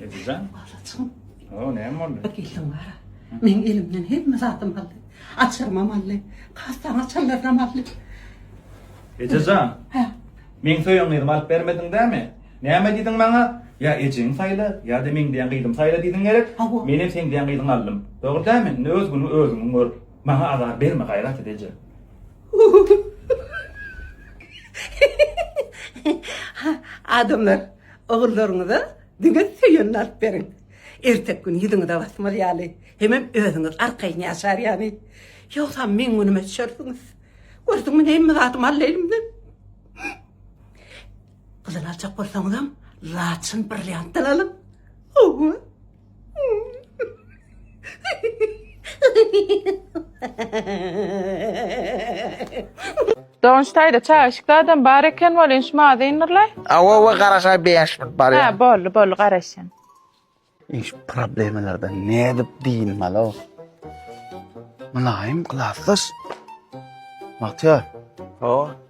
Edijan. Alaçym. O, näme boldy? Bir geldim var. Men elimden hemme zatym aldy. Açarmam aldy. Kastan açarlardan aldy. Edijan. Hä. Men söýen gyzym alyp bermediň dämi? Näme diýdiň maňa? Ya ejeň saýla, ya da men diýen gyzym saýla diýdiň gerek. Men hem sen diýen gyzyňy aldym. Dogry dämi? Indi öz günüňi özüň gör. Maňa azar berme gaýrat et eje. Adamlar, ogullaryňyza diňe söýenini alyp beriň. Ertek gün ýüzüňize basmaz ýaly, hemem özüňiz arkaýyn ýaşar ýaly. Ýogsam meň günüme düşersiňiz. Gördüňmi näme zadym aldy elimden. Gyzyl aljak bolsaňyzam, laçyn brilliantdan alyň. Hawa. Donç taýda çaýyşykda adam bar eken welin şu maňa zeýnurlaý. Awa we garaşa 5 minut bar Ha ya. boldy boldy garaşýan. Iş problemalarda ne edip diyinmeli o? Mılayım klasdaş. Bahtiyar. O.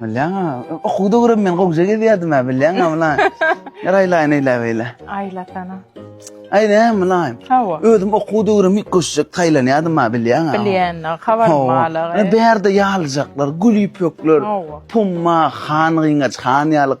Bilýäňä, okuw döwrüm men gowja gezýärdim hä, bilýäňä mulaý. Her aýlaýyn eýle beýle. Aýlasana. Aýne mulaý. Hawa. Özüm okuw döwrüm ilk goşjak taýlanýardym hä, bilýäňä. Bilýän, habar malag. Hawa. Bärde ýalyjaklar, gül ýüpekler, Hawa. pumma, han gyňaç, han ýalyk.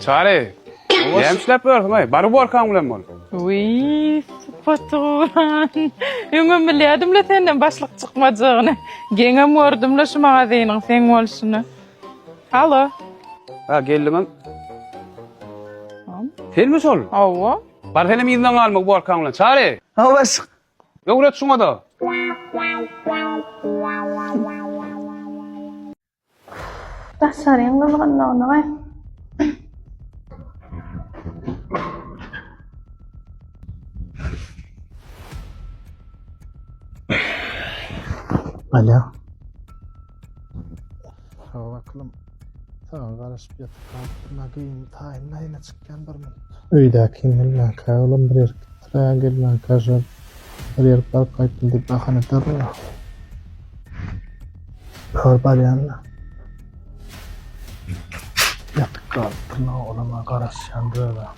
Çary, näme işläp ýörsüň, aý? Bar uborkaň bilen bol. Wiý, sypatygran. Öňem bilýädim-le senden başlyk çykmajagyny. Geňem gördüm-le şu magazynyň seň bolşuny. Halo. Ha, geldiňem. Senmi şol? Hawa. Bar senem yzyna galma uborkaň bilen. Çary! Hawa, başlyk. Öwret şuňa-da. Daşaryň gyzgynlygyny we Alo. Hawa aklym. Saňa garaşyp ýatyp galyp, nagyn taýyn naýyna çykýan bir minut. Öýdäki milläkä olam bir erkit. Syraya gelmän käşir bir ýere baryp gaýtdym diýip bahana edýärler-ä. Kör barýan-da. Ýatyp galyp durna olama garaşýan döwra.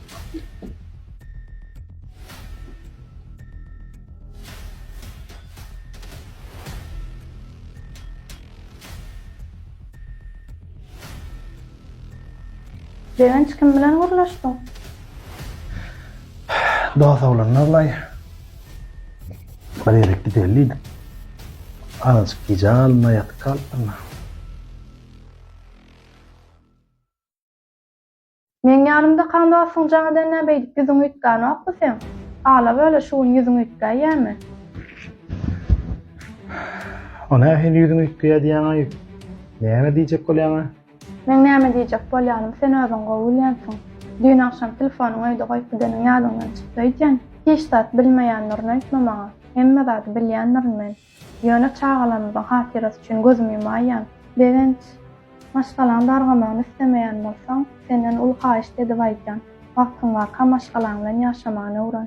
Sevinç kim bilen gürleşdiň? Dost oglan Nurlaý. Bir ýere gideli diýdim. Azajyk gijä galynda ýatyp galypdym. Meň ýanymda kan dostuň jaň edende beýdip ýüzüňi üýtgänokmy seň? Hala böle şu gün ýüzüňi üýtgäýýämi? O nähili ýüzüňi üýtgeýär diýýäň-aý? Näme diýjek bolýaň-a? Meň näme diýjek bolýanym sen özüň gowy bilýänsiň. Düýn agşam telefonyňy öýde goýup gideniň ýadyňdan çykdy öýdýän. Hiç zat bilmeýändirin öýtme maňa. Hemme zady bilýändirin men. Ýöne çagalarymyzyň hatyrasy üçin gözümi ýumaýýan. Begenç, maşgalaň dargamagyny islemeýän bolsaň, senden uly haýyşt edip aýdýan. Wagtyň barka maşgalaň bilen ýaşamagyny öwren.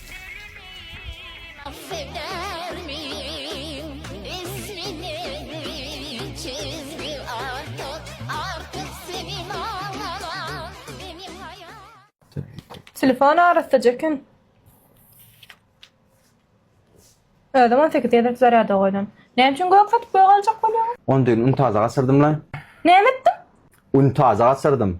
Telefon arassaja kim? Özüm on sekiz gezek zarýada goýdum. Näme üçin gök satyp gök aljak bolýaň? On düýn untaza gasyrdym la. Näme etdiň? Untaza gasyrdym.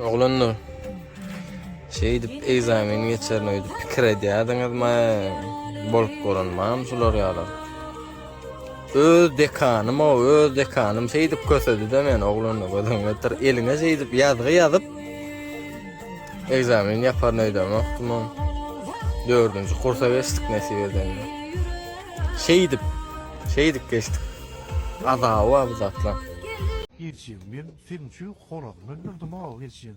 Oglanlar. Şeydip egzamin geçerin öýdüp pikir edýärdiňizmi? Bolup görünmem şular ýaly. Öz dekanym o, öz dekanym seýdip kösedi-de men oglanyna gözüm getir. Eliňe seýdip ýazgy ýazyp egzamin ýapar nöýdem okdum. Dördünji kursa geçdik nesip eden. Seýdip, seýdip geçdik. Azawa bu zatlar. Geçýän men seniň üçin horazyny öldürdim aw geçýän.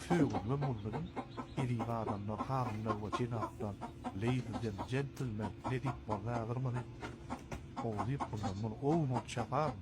Söýgüli mundym, eziz adamlar, hanymlar we jenaplar, ladies and gentlemen, ne diýip boldy häzir muny? Gowy diýip boldy, muny ow bolup çaparyn.